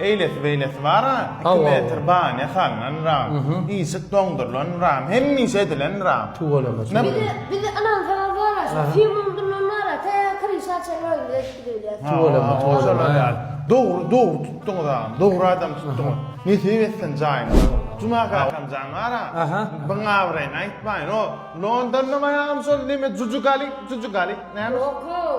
Eýlesi-beýlesi bar-a, iki metr banya salnanram, işik doňdurylanram, hemişe edilenram. Tüweleme, tüweleme. Bizi ynansaňyz bar-a, şol firmanyň dilinden bar-a, tä kryşa çenli özümiz edip gidebilýäs. Tüweleme, tüweleme. Dogry, dogry tutduňyz agam, dogry adam tutduňyz. Nesip etsin jaýyňyza. Juma kakam jan bar-a, biň abraýyny aýtmaýyn, o Londonda maňa agam şol neme Jujugali, Jujugali, näme? Ýok-ow.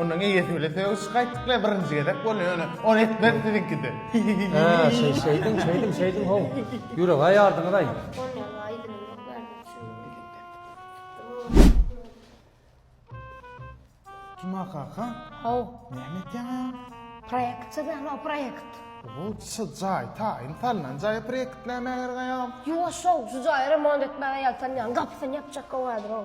Ondan eýesi bile söýüş gaýtykly birinji gezek bolýar ýöne ony etmez siziňkide. Hä, şeý şeýdiň, şeýdiň, şeýdiň how. Ýürek aýardyňyz-aý. Juma kaka. How. Näme etýäňem? Proýekt çyzýan o proýekt. Bu şu jaý taýyn salnan jaý proýekt näme gerek aýam? Ýo şo şu jaýy remont etmäge ýaltanýan gapysyny ýapjak gowy häzir o.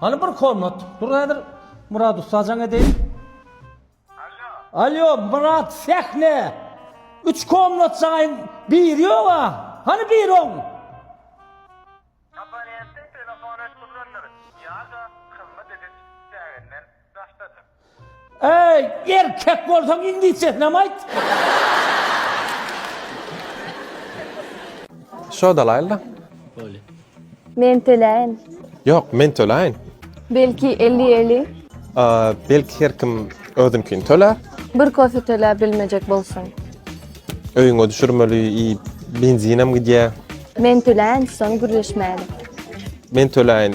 Hany bir komnat. Dur häzir Murat ussa jaň edeýin. Allo. Allo Murat sähne. Üç komnat jaýyn bir ýok a. Hany bir on. Abonentde telefon et durlandyr. Ýa-da hyzmat ediş çäginden daşdadyr. Eý, erkek bolsaň iňlisçesinem aýt! Şo dalaýylda. Bolýa. Men töläýin. Ýok, men töläýin. Belki elli eli. Belki her kim özünkini tölär. Bir kofe töläp bilmejek bolsaň. Öýüňe düşürmeli i benzinem gidýä. Men töläýin, soň gürleşmäli. Men töläýin.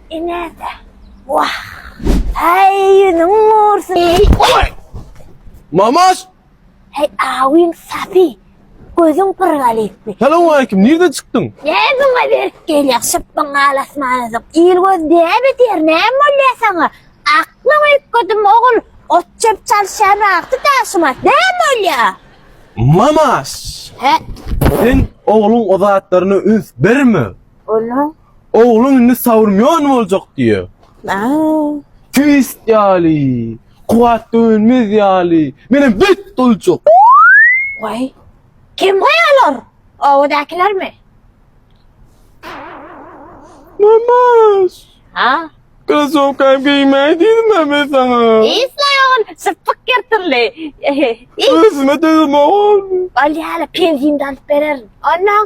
Inede. Wah. Heý ýüzüň gursyn. Mamaş. Heý awyň sapy. Gözüň pyrgaly etdi. Salam aleýkim, nirden çykdyň? Näme muňa berip gelýäň, şypbyň alasmanydyň. Il göz däp edýär, näme bolýar saňa? Aklyň üýtgedimi ogul, ot çöp çalyşýan wagty daşymat, näme bolýar? Mamaş. Hä? Sen ogluň o zatlaryna üns berme. Onuň Ogluň indi Saurmýon boljak diýýär. Aa. Twist ýaly, kuwwat dönmez ýaly, menem beýt boljak. Waý. Kim waý olar? Obadakilermi? Mamaş. Ha? Krasowkam geýmäý diýdim-ä men saňa. Isleý ogul, sypyk ýyrtyldy. Ösüme dözemok ogul. Bolýa-la, penzini-de alyp bererin. Onuň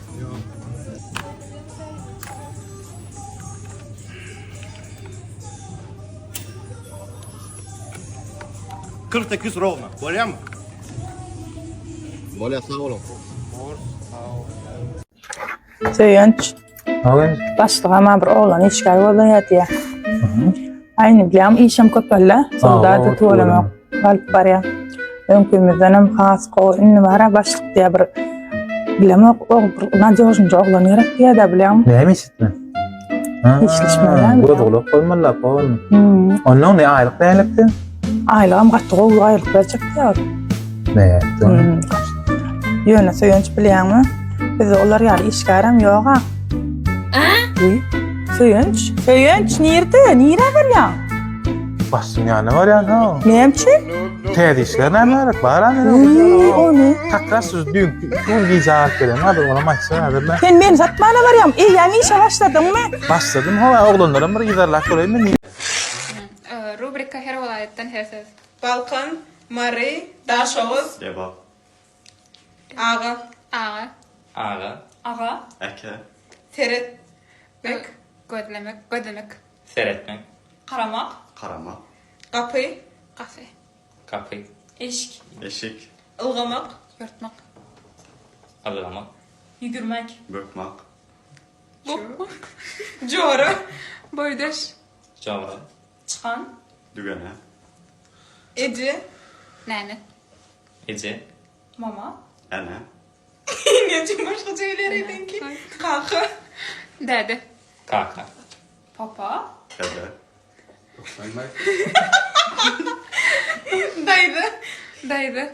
Kırk sekiz rovna. Bolýar mı? Bolýar sag boluň. Söýenç. Awen. Başlyga ma bir oglan işgär gözleýär diýýär. Aýny bilýän işim köpeldi. Soldaty tuwalamak. Alyp barýar. Öňkümizden hem has gowy indi bara başlyk diýýär bir bilemok o bir nadýožnyja oglan gerek diýýär-de bilýäňmi? Näme eşitme? Hiçleşmeden. Göz gulak bolmaly lap oglum. Hmm. Ondan ne aýlyk nälikdi? Aýlygam gaty gowy aýlyk berjek diýýär. Näetdi? Hmm. Ýöne söýenç bilýäňmi? Biz olar ýaly işgärem ýog-a. Söýenç, söýenç nirde? Nire barýaň? Başym ýanyna barýan ha. Näme üçin? Täze işler näme gerek? Bar ha meniň. Iý, o ne? Takra şu düýn gün gije alyp gelen hadi ona maçsa hadi ben. Sen meni satmana barýaň. Eý, ýaňy işe başladyňmy? Başladym ha oglanlaram bir ýygarlap geleýin men. Rubrika her welaýatdan her ses. Balkan, Mary, Daşoguz. Lebap. Aga. Aga. Aga. Aga. Aka. Seretmek. Gözlemek. Gözlemek. Seretmek. Garamak. Garamak. Gapy. Gapy. Gapy. Eşik. Eşik. Ylgamak. Ýörtmek. Ylgamak. Ýügürmek. Bökmek. Bokmak. Jora. Boýdaş. Jora. Çykan. Dügene. Eje. Nene. Eje. Mama. Ene. Eneje başgaça geler edenki. Kaka. Dede. Kaka. Papa. Dede. Daýza. Daýza.